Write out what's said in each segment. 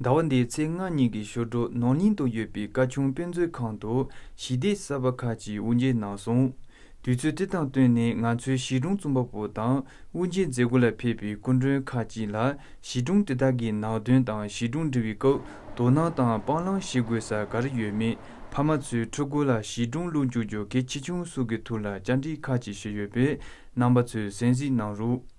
ཟླ་བ་འདིའི་ཚེས་ལྔ་ཉིན་གྱི་ཞོར་དྲུག་ནང་སྙིང་དུ་ཡོད་པའི་བཀའ་ཆུང་དཔེ་མཛོད་ཁང་དུ་ཞི་བདེའི་གསར་པ་ཁག་ཅིག་དབུ་འབྱེད་གནང་སོང། དུས་ཚོད་དེ་དང་བསྟུན་ནས་ང་ཚོའི་གཞིས་གྲོང་རྩོམ་པ་པོ་དང་དབུ་འབྱེད་མཛད་སྒོ་ལ་ཕེབས་པའི་སྐུ་མགྲོན་ཁག་ཅིག་ལ་གཞིས་གྲོང་དེ་དག་གི་ནང་དོན་དང་གཞིས་གྲོང་འབྲི་བའི་སྐབས་དོ་སྣང་དང་སྤང་བླང་བྱེད་དགོས་ས་ག་རེ་ཡོད་མེད་ཕ་མ་ཚོས་ཕྲུ་གུ་ལ་གཞིས་གྲོང་གློག་འཁྱུག་རྒྱོ་གས་ཆེ་ཆུང་སུ་གི་ཐུགས་ལ་བཅར་འདྲི་ཁག་ཅིག་བྱས་ཡོད་པས་རྣམ་པ་ཚོས་གསན་གཟིགས་གནང་རོགས།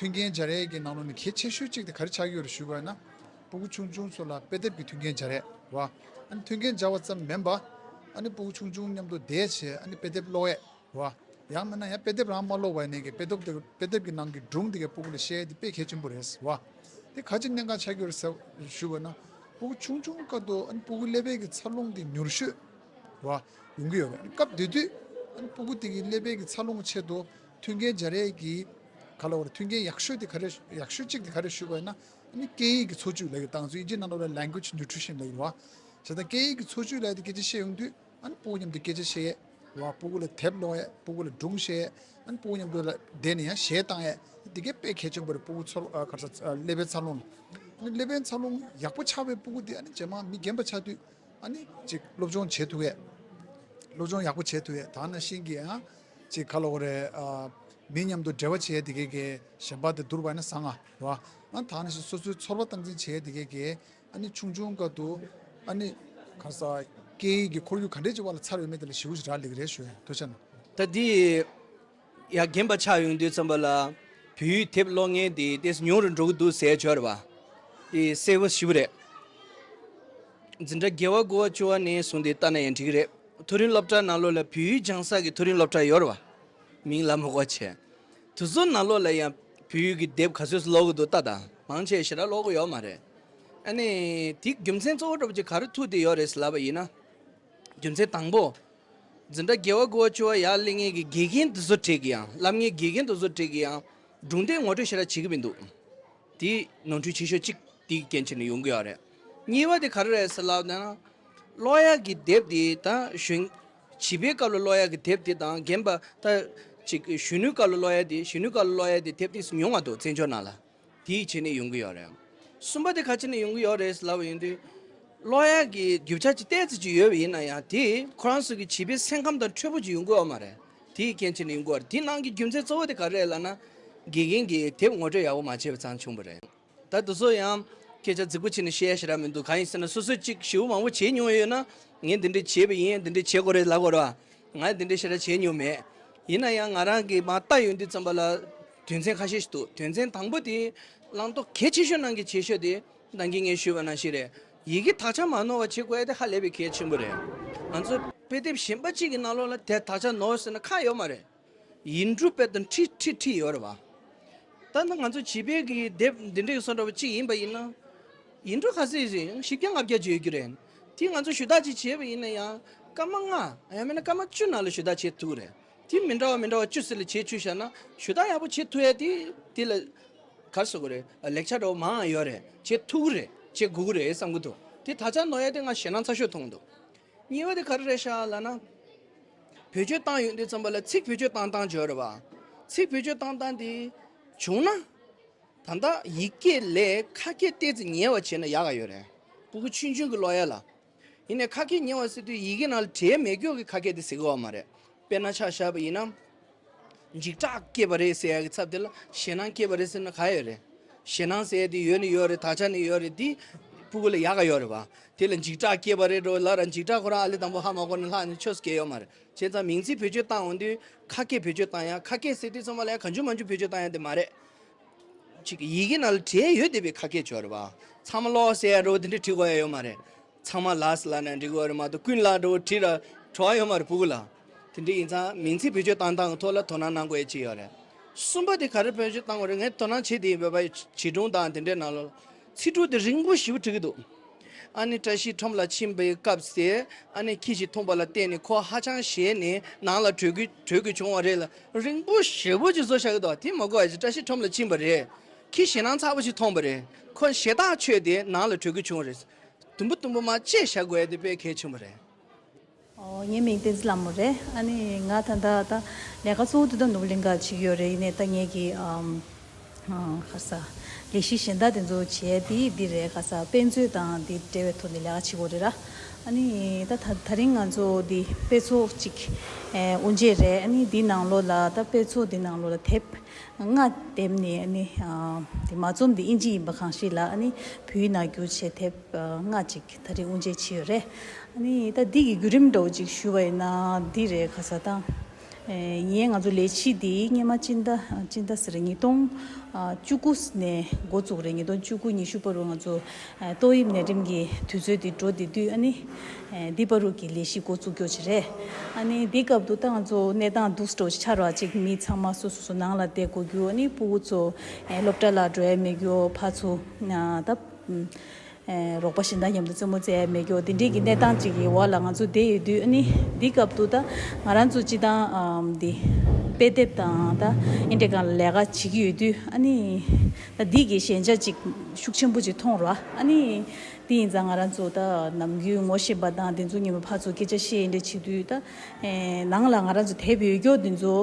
མཐུན་རྐྱེན་བྱ་རས་ཀྱི་ནང་ནོར་ནི་གལ་ཆེ་ཤོས་གཅིག་སྟེ་ག་རེ་ཆགས་ཡོད་རེ་ཞུ་དགོས་ན། སྤུ་གུ་ཆུང་ཆུང་ཚོ་ལ་དཔེ་དེབ་ཀྱི་མཐུན་རྐྱེན་བྱ་རས་བ། ཨ་ནི་མཐུན་རྐྱེན་བྱ་བ་ཙམ་མིན་པ། ཨ་ནི་སྤུ་གུ་ཆུང་ཆུང་མཉམ་དུ་བསྡད་བྱས་ཨ་ནི་དཔེ་དེབ་ཀློག་ཡས་བ། ཡང་མིན་ན་ཡང་དཔེ་དེབ་རང་མ་ཀློག་བས་ནས་ཀྱི་དཔེ་དོབ་དཔེ་དེབ་ཀྱི་ནང་གི་སྒྲུང་དེ་གའི་སྤུ་གུ་ལ་བཤད་ཡས་དེ་དཔེ་གལ་ཆེན་པོ་རེད་བ། དེ་ག་ཅིག་གནད་འགག་ཆགས་ཡོད་རེ་ཞུ་བ་ན། སྤུ་གུ་ཆུང་ཆུང་དཀའ་སྡུག་ཨ་ནི་སྤུ་གུ་ཀླད་པད་ཀྱི་འཚར་ལོངས་ཀྱི་མྱུར་ཤོས་བ། ཡོང་གི་ཡོད་རེད། སྐབས་དེ་དུས། ཨ་ནི་སྤུ་གུ་དེ་གའི་ཀླད་པད་ཀྱི་འཚར་ལོངས་ཀྱི་ཆེད་དུ་མཐུན་རྐྱེན་འཇལ་རེས་ཀྱི་ག་ལ་བར་མཐུན་རྐྱེན་ཡག་ཤོས་དེ་ག་རེད་ཡག་ཤོས་གཅིག་དེ་ག་རེད་ཞུ་དགོས་ན། ནི་སྐད་ཡིག་གི་འཚོ་བཅུད་ལེགས་དང་ཚུལ་གྱིས་ན་ནོར་བའི Language Nutrition ལེགས་རོགས། བྱས་ཙང་སྐད་ཡིག་གི་འཚོ་བཅུད་ལེགས་དེ་སྐད་ཆ་བཤད་ཡོང་དུས་ཨཱ་ནི་སྤུ་གུ་མཉམ་དུ་སྐད་ཆ་བཤད་ཡས་རོགས་སྤུ་གུ་ལ་དེབ་སློང་ཡས་སྤུ་གུ་ལ་སྒྲུང་བཤད་ཡས་ཨཱ་ནི་སྤུ་གུ་མཉམ་དུ་བསྡད་ནས་ཡང་གཞས་བཏང་ཡས་དེ་གའི་དཔེ་གལ་ཆེན་པོ་རེད་སྤུ་གུ་ཚོར་ག་ཚ་ཀླད་པའི་འཚར་ལོངས་ལ་ཨཱ་ནི་ཀླད་པའི་འཚར་ལོངས་ཡག་པོ་ཆགས་པའི་སྤུ་གུ་དེ་ཨཱ་ནི་ཇེ་མང་མི་རྒན་པ་ཆགས་དུས་ཨཱ་ནི་ཅིག་སློབ་སྦྱོང་བྱེད་ཐུབ་ཡས་སློབ་སྦྱོང་ཡག་པོ་བྱེད་ཐུབ་ཡས་ད་ནང་བཞིན་གྱི་ཨཱ་ཅིག་ཁ་ལོ་རེ། མི་མཉམ་དུ་འབྲེལ་བ་བྱས་དེ་གས་ཀྱི། གཞན་པར་དེ་བསྡུར་བ་ནི་བཟང་ང་རོ། ད་ནི་ཞིག་སོ་སོའི་ཚོར་བ་སྟངས་འཛིན་བྱས་དེ་གས་ཀྱི། ཨ་ནི་ཆུང་ཆུང་སྐབས་དུ། ཨ་ནི། ཁ་ས། སྐད་ཡིག་གི་ཁོར་ཡུག་ག་འདྲས་ཀྱི་དབར་ལ་འཚར་བའི་མི་དེ་ལ་ཞེ་བོ་ཞིག་རག་ལས་ཀྱི་རེད་ཞུ་ཐུགས་ཆེ་གནང། ད་འདི་ཡི། ཡ་རྒན་པ་ཆགས་ཡོང་དུས་ཙམ་པ་ལ། བོད་ཡིག་དེབ་ཀློག་མཁན་དེ་ལྟས་སུ་ཉུང་རུ་འགྲོ་གི་འདུག་ཟས་སྦྱོར་བ། དེ་གསལ་བོ་ཞིབ་རེད། འཛིན་གྲྭ་རྒྱལ་བ་དགུ་བ་བཅུ་བ་ནས་བཟུང་དེ་ལྟ་ན་ཡང་འགྲིག་གི་རེད། མཐོ་རིམ་སློབ་གྲྭ་ནང་ལོ་ལ་བུའི་རྒྱང་སྲ་གི་མཐོ་རིམ་སློབ་གྲྭ་ཡོད་རེད་བ། མིང་ལ་མོ་གོ་བྱས། དུ་བཟོ་ནང་ལོ་ལ་ཡང་བུ་ཡུག་གི་དེབ་ག་ཚོད་སུ་ལོག་གི་འདུག་ལྟ་དང་མང་ཆེ་ཞེ་ར་ལོག་གི་ཡོད་མ་རེད། ཨ་ནི། དེའི་རྒྱུ་མཚན་གཙོ་བོ་སྒྲོབ་ཀྱི་ག་རེ་ཐུག་དེ་ཡོད་རེད་ཟེར་ལབ་པ་ཡིན་ན། རྒྱུ་མཚན་དང་པོ། འཛིན་གྲྭ་རྒྱལ་བ་དགུ་བ་བཅུ་བ་ཡར་གླིང་ངེད་ཀྱི་དགེ་རྒན་དུ་བཟོ་བྲེག་གི་ཡང་ལབ་ངེད་དགེ་རྒན་དུ་བཟོ་བྲེག་གི་ཡང་སྒྲུང་དེབ་ངོ་སྤྲོད་ཞེ་ར་བྱེད་ཀྱི་མི་འདུག་དེའི་ནོར་འཁྲུལ་ཆེ་ཤོས་གཅིག་དེའི་རྐྱེན་ཕྱིར་ནས་ཡོང་གི་ཡོད་རེད། གཉིས་པ་དེ་ག་རེ་རེད་ཟེར་ལབ་ན། གློག་གཡའ་གྱི་དེབ་དེ་དང་གཞོན། བྱིས་པའི་སྐབས་ལ་གློག་གཡའ་གྱི་དེབ་དེ་དང་རྒན་པ། གཅིག་གཞོན་ནུའི་སྐབས་ལ་གློག་གཡའ་དེ་གཞོན་ནུའི་སྐབས་ལ་གློག་གཡའ་དེ་དེབ་དེ་ཉུང་བ་འདུག་བཙན་བྱོལ་ནང་ལ། དེའི་ཆེད་ནས་ཡོང་གི་ཡོད་རེད། གསུམ་པ་དེ་ག་ཆེད་ནས་ཡོང་གི་ཡོད་རེད་ལབ་པ་ཡིན་དུས། གློག་གཡའ་གྱི་རྒྱུ་ཆ་ཅིག་གཏད་ཚེ་ཅིག་ཡོད་པ་ཡིན་ན་ཡང་དེས་ཁོ་རང་ཚོ་གི་བྱིས་པའི་སེམས་ཁམས་དང་འཕྲོད་པོ་ཅིག་ཡོང་གི་ཡོད་མ་རེད། དེའི་རྐྱེན་ཆེད་ནས་ཡོང་གི་ཡོད་རེད་དེའི་ནང་གི་རྒྱུ་མཚན་གཙོ་བོ་དེ་ག་རེད་ལབ་ན། དགེ་རྒན་གྱིས་དེབ་ངོ་སྤྲོད་ཡག་པོ་མ་བྱས་པ་ཙང་བྱུང་བ་རེད། ད་དུ་སུ་ཡང་སྐད་ཆ་རྫིག་པོ་བྱས་ནས་བཤད་ཡ་ཞིག་རག་མི་འདུག་གང་ཡིན་ཟེར་ན་སོ་སོས་ཅིག་ཞིབ་མང་པོ་བྱས་མྱོང་ཡོད་ན་ངས་འདི་འདྲས་བྱས་པ་ཡིན་འདི་འདྲས་བྱེད་དགོས་རེད་ལབ་དགོས་རེད་བ། ང་འདི་འདྲས་ཞེ་དྲག་བྱས་མྱོང་མེད། ཡིན་ན་ཡང་ང་རང་གིས་མ་བརྟགས་ཡོད་འདི་ཙམ་པ་ལ་དོན་ཚན་ཁ་ཤས་ཤིག་འདུག་དོན་ཚན་དང་པོ་དེ་བླང་དོར་གལ་ཆེ་ཤོས་ནང་གི་ཆེ་ཤོས་དེ་འདང་གིས་ངས་ཞུས་པ་ནང་ཞིག་རེད། ཡི་གེ་དག་ཆ་མ་ནོར་བ་བྱེད་དགོས་དེ་ཧ་ལས་པའི་གལ་ཆེན་པོ་རེད། ང་ཚོ་དཔེ་དེབ་གཞན་པ་གཅིག་གི་ནང་ལོགས་ལ་དེ་དག་ཆ་ནོར་ཟེར་ན་ཁག་ཡོད་མ་རེད། ཡིན་འབྲུ་དཔལ་དང་ཁྲི་ཁྲི་ཁྲི་ཡོད་རེད་བ། ད་ང་ཚོ་བྱིས་པའི་གི་དེབ་འདི་འདྲའི་གསོན་འགྲོ་བ་གཅིག་ཡིན་པ་ཡིན་ན། ཡིན་འབྲུ་ག་ཚོད་ཡིན་རེད་བཞི་བརྒྱ་ལྔ་བརྒྱ་བརྗོད་རྒྱུ་རེད། དེ་ང་ཚོ་ཞུ་དག་ཅིག་བྱས་པ་ཡིན་ན་ཡང་སྐར་མ་ལྔ་ཡང་མིན་ན་སྐར་མ་བཅུ་ནང་ལ་ཞུ་དག་བྱེད་ཐུག་རེད། དེ་མི་འདྲ་བ་མི་འདྲ་བ་བཅུ་ཟེར་ལ་བྱས་བཅུ་བཞག་ན་ཞུ་དག་ཡག་པོ་བྱེད་ཐུག་ཡ་དེ་དེ་ལ། གར་སོ་གོ་རེད་ལེགས་ཆ་འདྲ་བོ་མང་ཡོད་རེད་བྱེད་ཐུག་རེད་བྱེད་དགོས་རེད་བསམ་གི་འདུག་དེ་ད་ཆ་ནོ་ཡ་དེ་ང་ཞེད་སྣང་ཚ་ཤོས་མཐོང་གི་འདུག། ཉེས་བ་དེ་ག་རེ་རེད་ཤ་ལ་ན། བེད་སྤྱོད་བཏང་ཡོད་འདི་ཙམ་པ་ལ་ཚིག་བེད་སྤྱོད་བཏང་བཏང་བརྗོད་རེད་པ། ཚིག་བེད་སྤྱོད་བཏང་བཏང་དེ་བྱུང་ན། ད་ལྟ་ཡིག་སྐད་ལས་ཁ་སྐད་བལྟས་ཚེ་ཉེས་བ་བྱས་ན་ཡག་ག་ཡོད་རེད། པུ་གུ་ཆུན་ཆུན་གྱི་ལོ་ཡ་ལ། ཡིན་ནས་ཁ་སྐད་ཉེས་བ་ཟེར་དུས་ཡི་གེ་ནང་ལ་དྲའི་མེ་སྒྱོགས་ཀྱི་ཁ་སྐད་དེ་ཟེར་དགོས་བ་མ་རེད། དཔེར་ན་ཆ་བཞག་པ་ཡིན་ན། འཇིགས་སྐྲག་སྐྱེས་པ་རེད་ཟེར་ཡ་གི་ཚབ་དེ་ལ་ཞེད་སྣང་སྐྱེས་པ་རེད་ཟེར་ན་ག་ཡོད་རེད། ཞེད་སྣང་ཟེར་ཡ་དེ་ཡོད་ནི་ཡོད་རེད་ད་ཆ་ནི་ཡོད་རེད་དེ་སྤུ་གུ་ལ་ཡག་ག་ཡོད་རེད་བ། དེ་ལ་འཇིགས་སྐྲག་སྐྱེས་པ་རེད་འགྲོ་ལ་ར་འཇིགས་སྐྲག་ཁོ་རང་ཨ་ལི་དང་པོ་ཧ་མ་གོ་ནི་ལྷག་ནི་ཆོས་སུ་སྐྱེས་ཡོད་མ་རེད་བྱས་ཙང་མིང་ཚིག་བེད་སྤྱོད་བཏང་འོང་དུས་ཁ་སྐད་བེད་སྤྱོད་བཏང་ཡ་ཁ་སྐད་ཟེར་དུས་ཚང་མ་ལ་ཡ་ག་འཇུ་མ་འཇུ་བེད་སྤྱོད་བཏང་ཡ་དེ་མ་རེད། ཅིག་ཡི་གེ་ནང་ལ་བྲིས་ཡ་ཡོད་དེ་བས་ཁ་སྐད་བྱོས་རེད་བ། ཚང་མ་ཀློག་ཟེར་ཡ་རེད་བ་དེ་འདྲས་བྲིས་གོ་ཡ་ཡོད་མ་རེད། ཚང་མ་ལ་སི་ལ་ནས་འགྲིག་བར་མ་ཏོ་ཀུན་ལ་འགྲོ་བ་ཁྲིད་ར་བྲོ་བ་ཡོད་མ་རེད་བུ་གུ་ལ་དེ་འདྲི་ཡིན་ཚ་མིང་ཚིག་བེད་སྤྱོད་བཏང་སྟངས་གི་ཐོག་ལ་དོ་སྣང་གནང་དགོས་ཡ་ཅི་ཡོད་རེད་གསུམ་པ་དེ་ག་རེ་བེད་སྤྱོད་བཏང་བ་རེད་ངས་དོ་སྣང་བྱེད་དེ་ཡིན་བོད་པ་བྱིས་སྒྲུང་དང་དེ་འདྲའི་ནང་ལོ་ཚིག་དྲུག་དེ་རིང་པོ་ཞིབ་བྲིས་ཀི་འདུག་ཨ་ནེ་བཀྲ་ཤིས་ཁྲོམ་ལ་ཕྱིན་པའི་སྐབས་དེ་ཨ་ནེ་ཁྱི་ཞིག་འཐུང་པ་ལ་བརྟེན་ནས་ཁོ་ཧ་ཅང་ཞེ་ནས་ནང་ལ་བྲོས་ཀི་བྲོས་ཀི་བྱུང་བ་རེད་ལ་རིང་པོ་ཞེ་བོ་ཅིག་བཟོ་བཞག་གི་འདུག་དེ་མ་གོ་བར་བཀྲ་ཤིས་ཁྲོམ་ལ་ཕྱིན་པ་རེད་ཁྱི་ཞེ་སྣང་ཚ་བོ་ཞིག་མཐོང་པ་རེད་ཁོ་ཞེ་ཐག་ཆོད་དེ་ནང་ལ་བྲོས་ཀི་བྱུང་བ་རེད། དུམ་བུ་དུམ་བུ་མ་བཅད་བྱ་དགོས་འདི་དཔེ་གལ་ཆེན་པོ་རེད། ངའི་མིང་བསྟན་འཛིན་ལྷ་མོ་རེད་ཨ་ནི་ང་ད་ལྟ་ད་ལས་ཀ་གཙོ་བོ་དེ་དང་ནུབ་གླིང་ག་བྱེད་ཀྱི་ཡོད་རེད་ཡིན་ནས་ད་ངེད་ཀྱི་ཁ་ས་ལས་གཞི་གཞན་དག་དེ་ཚོ་བྱས་དེ་འདི་རེད་ཁ་ས་དཔེ་མཛོད་དང་དེ་འབྲེལ་བའི་ཐོག་ནས་ལས་ཀ་བྱེད་དགོས་རེད་ར་ཨ་ནི་ད་ད་རིང་ང་ཚོ་འདི་དཔེ་ཚོགས་གཅིག་དབུ་འབྱེད་རེད་ཨ་ནི་འདི་ནང་ལོགས་ལ་ད་དཔེ་ཚོགས་འདི་ནང་ལོགས་ལ་དེབ་སྔགས་བསྡེབས་ནས་ནི་དེ་མ་རྩོམ་དེ་དབྱིན་ཇི་ཡིན་པ་གང་ཞིག་ལ་ནི་བུའི་ནག་འགྱུར་བྱེད་ཐེབས་སྔགས་ཅིག་ད་རིང་དབུ་འབྱེད་བྱེད་ཡོད་རེད། ནི་ད་འདི་གི་བརྒྱུད་རིམ་འདྲ་བོ་ཅིག་ཞུ་བ་ཡིན་ན་འདི་རེད་ག་ས་དང། ཡིན་ང་ཚོ་ལས་བྱེད་འདིའི་སྙེ་མ་སྤྱི་ཟླ་སྤྱི་ཟླ་ཟེར་ཉིས་སྟོང་བཅུ་དགུ་ནས་འགོ་བཙུགས་རེད་ཉིས་སྟོང་བཅུ་དགུ་ཉི་ཤུ་པ་རུ་ང་ཚོ། ཏོག་དབྱིབས་ནད་རིམས་ཀྱི་དུས་ཚོད་དེ་འགྲོ་བདེ་དུས་ཨ་ནི་ལྡི་པ་རུ་གྱི་ལས་གཞི་འགོ་བཙུགས་རྒྱུ་རེད། ཨ་ནི་དེའི་སྐབས་དུ་ཏང་ཙོ་གནས་སྟངས་སྡུག་སྤྲོ་ཆགས་ར་ཅིག་མི་ཚང་མ་སོ་སོ་སོ་ནང་ལ་བསྡད་དགོས་རྒྱུ་ཨ་ནི་སྤུ་བོ་ཚོ་སློབ་གྲྭ་ལ་འགྲོ་ཡས་མེད་རྒྱུ་ཕ་ཚོ་ད་རོགས་པ་ཞེ་འདང་མཉམ་དུ་བཙུན་མོ་བཙལ་ཡས་མེད་རྒྱུ་དེ་འདྲའི་གི་གནས་སྟངས་ཅིག་གི་འོག་ལ་ང་ཚོ་བསྡད་ཡོད་དུས་ཨ་ནི་དེའི་སྐབས་དུ་ད་ང་རང་ཚོ་སྤྱི་བཏང་འདི་དཔེ་དེབ་དང་ད་ཨིན་དྲེ་ཁང་ལ་ལས་ཀ་བྱེད་ཀྱི་ཡོད་དུས་ཨ་ནི། སྡིག་གི་ཞན་ཆ་ཅིག་ཤུགས་ཆེན་པོ་ཅིག་མཐོང་རོགས་ཨ་ནི། དེ་ཡིན་ཙང་ང་རང་ཚོ་ད་ནམ་རྒྱུན་ངོ་ཤེས་པ་དང་དེ་ཚོ་ཉིན་མོ་ཕར་ཚུར་སྐད་ཆ་བཤད་ཡི་འདྲ་བྱེད་དུས་ད་ནང་ལ་ང་རང་ཚོ་དད་པའི་ཡུལ་སྐྱོར་དེ་ཚོ་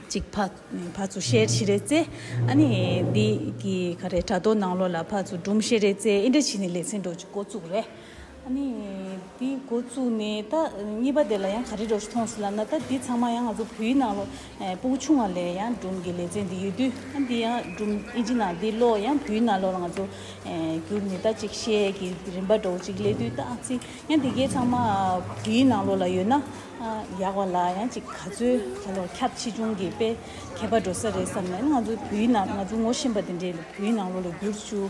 ཅིག་ཕར་ཚུར་བཤད་ཤེས་རེད་ཙེ་ཨ་ནི། འདི་གི་ག་རེ་དྲ་ཐོག་ནང་ལོགས་ལ་ཕར་ཚུར་སྦྲུམ་ཤེས་རེད་ཙེ་ཨི་འདྲ་བྱས་ནས་ལེ་ཚན་འགྲོ་རྒྱུ་འགོ་བཙུགས་རེད་ཨ་ནི། དེ་འགོ་བཙུགས་ནས་ད་གཉིས་པ་དེ་ལ་ཡང་ག་རེ་འགྲོ་ཞིག་མཐོང་སྲིད་ལབ་ན་ད་དེ་ཚང་མ་ཡང་ང་ཚོ་བོད་ཡིག་ནང་ལོ་སྤོ་བོ་ཆུང་བ་ལས་ཡང་སྒྲུང་གི་ལེ་ཚན་འདི་ཡོད་དུས་ཨ་འདི་ཡང་སྒྲུང་ཨིན་ཇི་ནང་འདི་ལོ་ཡང་བོད་ཡིག་ནང་ལོ་ལ་ང་ཚོ་བསྒྱུར་ནས་ད་གཅིག་བཤད་ཀྱི་རིམ་པ་འགྲོ་གཅིག་ལེ་དུས་ད་ཨ་ཙི་ཡང་དེ་གས་ཚང་མ་བོད་ཡིག་ནང་ལོ་ལ་ཡོད་ན་ཡག་བ་ལ་ཡང་གཅིག་ག་ཚོད་ག་ལོ་ཁྱབ་ཆེ་ཆུང་གི་དཔེ་ཁྱད་པར་འགྲོ་ས་རེད་བསམ་ནས་ང་ཚོ་བོད་ཡིག་ནང་ང་ཚོ་ངོ་ཤེས་པ་དེ་འདྲས་བོད་ཡིག་ནང་ལོ་ལ་བསྒྱུར་ཅུ།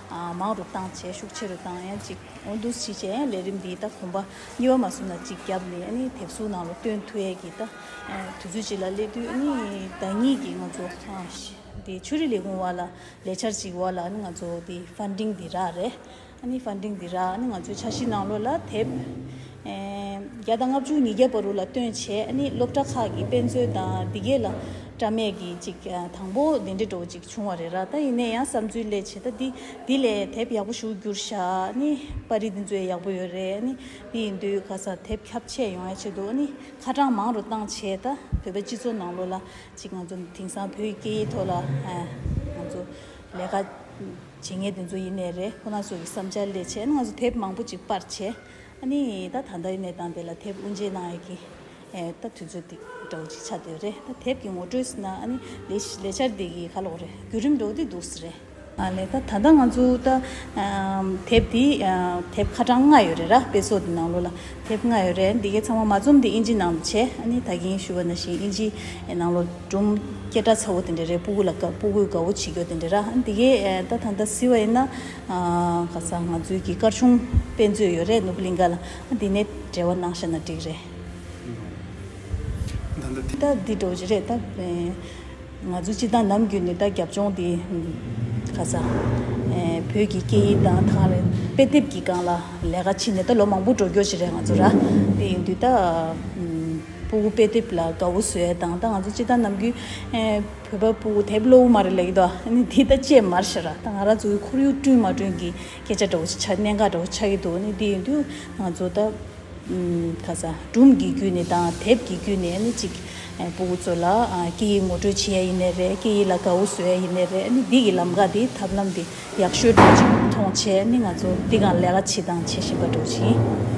མང་རུ་བཏང་བྱེད་ཤུགས་ཆེ་རུ་བཏང་ཡང་ཅིག་འོ་འདུག་བྱེད་བྱེད་ལས་རིམ་འདིའི་ད་གོམ་པ་གཉིས་པ་མ་བཟུང་ན་ཅིག་རྒྱབ་ནས་ནི་དེབ་གཟུགས་ནང་ལ་སྟོན་ཐུ་ཡས་ཀྱི་ད་དུས་ཚོད་ཅིག་ལ་སླེབས་དུས་ནི་བདག་ཉིད་ཀྱིས་ང་ཚོ་དེ་ཆོས་རིག་ལས་ཁུངས་བར་ལ་ལས་འཆར་ཅིག་བར་ལ་ནི་ང་ཚོ་དེ Funding འདི་རག་རེད་ཨ་ནི Funding འདི་རག་ནི་ང་ཚོའི་འཆར་གཞི་ནང་ལོ་ལ་དེབ་བརྒྱ་དང་ལྔ་བཅུ་ཉིས་བརྒྱ་བ་རུ་ལ་སྟོན་བྱས་ནི་སློབ་གྲྭ་ཁག་གི་དཔེ་མཛོད་དང་འདི་གས་ལ་སྐྲ་མེད་ཀྱི་ཅིག་དང་པོ་དེ་འདྲེ་འགྲོ་བ་ཅིག་བྱུང་བ་རེད་ར་ད་ཡིན་ནས་ཡང་བསམ་ཚུལ་ལས་བྱེད་ད་འདི་འདི་ལས་དེབ་ཡག་པོ་ཞུགས་རྒྱུར་བཞག་ནི་པར་རིས་འདི་མཛོད་ཡག་པོ་ཡོད་རེད་ནི་འདི་ཡིན་དུས་ག་སར་དེབ་ཁྱབ་ཆས་ཡོང་ཡ་ཆེད་དུ་ནི་ཁ་གྲངས་མང་རུ་བཏང་བྱས་ད་བོད་པའི་སྤྱི་ཚོགས་ནང་ལོ་ལ་ཅིག་ང་ཚོ་དེང་སང་བོད་ཡིག་སྐད་ཡིག་ཐོག་ལ་ང་ཚོ་ལས་ཀ་བྱེད་ངེས་དེ་ཚོ་ཡིན་ནས་རེད་ཁོ་ན་ཚོ་ཡི་བསམ་འཆར་ལས་བྱས་ནི་ང་ཚོ་དེབ་མང་པོ་ཅིག་པར་བྱས། ཨ་ནི་ད་ད་ལྟ་གནས་སྟངས་དེ་ལ་དེབ་དབུ་འབྱེད་གནང་ཡས་ཀྱི། ད་དུས་ཚོད་འདི་འདྲ་བོ་ཅིག་ཆགས་འདོད་རེད་ད་དེབ་ཀྱི་ངོ་སྤྲོད་ཟེར་ན་ཨ་ནི་ལས་འཆར་འདི་ཡི་ཁ་ལོག་རེད་བརྒྱུད་རིམ་འགྲོ་བདེ་འདུག་ཟེར་རེད། ཨ་ལས་ད་ད་ལྟ་ང་ཚོ་ད་དེབ་འདི་དེབ་ཁ་གྲངས་ལྔ་ཡོད་རེད་ར་དཔེ་ཚོགས་འདི་ནང་ལོ་ལ་དེབ་ལྔ་ཡོད་རེད་འདི་གའི་ཚང་མ་མ་འཛོམས་དེ་ཨིན་ཇི་ནང་དུ་བྱས་ཨ་ནི་ད་གིན་ཞུ་བ་ན་བཞིན་ཨིན་ཇི་ནང་ལོ་སྒྲོམ་སྐད་སྒྲ་ཚ་བོ་དེ་འདྲ་རེད་སྤུ་གུ་ལ་སྤུ་གུས་དགའ་བོ་བྱེད་རྒྱོ་དེ་འདྲ་ར་འདི་གའི་ད་ད་ད་ཟེར་བ་ཡིན་ན། ག་ས་ང་ཚོའི་གི་སྐར་ཆུང་དཔེ་མཛོད་ཡོད་རེད་ནུབ་གླིང་ག་ལ་འདི་ནས་འབྲེལ་བ་གནང་ཤ་ན་འགྲིག་རེད། ད་ད་འདི་འགྲོ་གི་རེད་ད། ང་ཚོ་སྤྱི་དང་ནམ་རྒྱུན་ནས་ད་རྒྱབ་ལྗོངས་འདི་ག་ས་བོད་ཀྱི་སྐད་ཡིག་དང་ཐང་རེད་དཔེ་དེབ་ཀྱི་སྒང་ལ་ལས་ཀ་ཕྱིན་ནས་ད་ལོ་མང་པོ་འགྲོ་རྒྱོ་གྱི་རེད་ང་ཚོ་ར་དེ་ཡིན་དུས་ད། སྤུ་བོ་དཔེ་དེབ་ལ་དགའ་བོ་བཟོས་དང་ད་ང་ཚོ་སྤྱི་དང་ནམ་རྒྱུན། བོད་པ་པོ་དེབ་གློག་དབུ་མ་རེ་ལེགས་འདུག་ཨ་ནི་དེ་ད་ཅེས་མར་བཤད་ར་ད་ང་ར་ཚོའི་ཁོར་ཡུག་བསྐྲུན་མ་བསྐྲུན་གི་སྐད་ཆ་འདྲ་བོ་ཞིག་ཆ་གནད་འགག་འདྲ་བོ་ཆགས་ཀྱི་འདུག་ཨ་ནི་དེ་ཡིན་དུས་ང་ཚོ་ད་ག་ས་སྒྲུང་གི་བརྒྱུད་ནས་དང་དེབ་ཀྱི་བརྒྱུད་ནས་ཨ་ནི་ཅིག་པོ་བུ་ཚོ་ལ་སྐད་ཡིག་ངོ་སྤྲོད་བྱེད་ཡ་ཡིན་ནི་རེད་སྐད་ཡིག་ལ་དགའ་བོ་བཟོ་ཡ་ཡིན་ནི་རེད་ཨ་ནི་འདི་གི་ལམ་ཁ་འདི་ཐབས་ལམ་འདི་ཡག་ཤོས་འདྲ་བོ་ཞིག་མཐོང་ཆེས་ཨ་ནི་ང་ཚོ་འདི་ག་ལས་ཀ་བྱེད་དང་བྱེད་བཞིན་པ་འདྲ་བོ་ཞིག་ཡིན།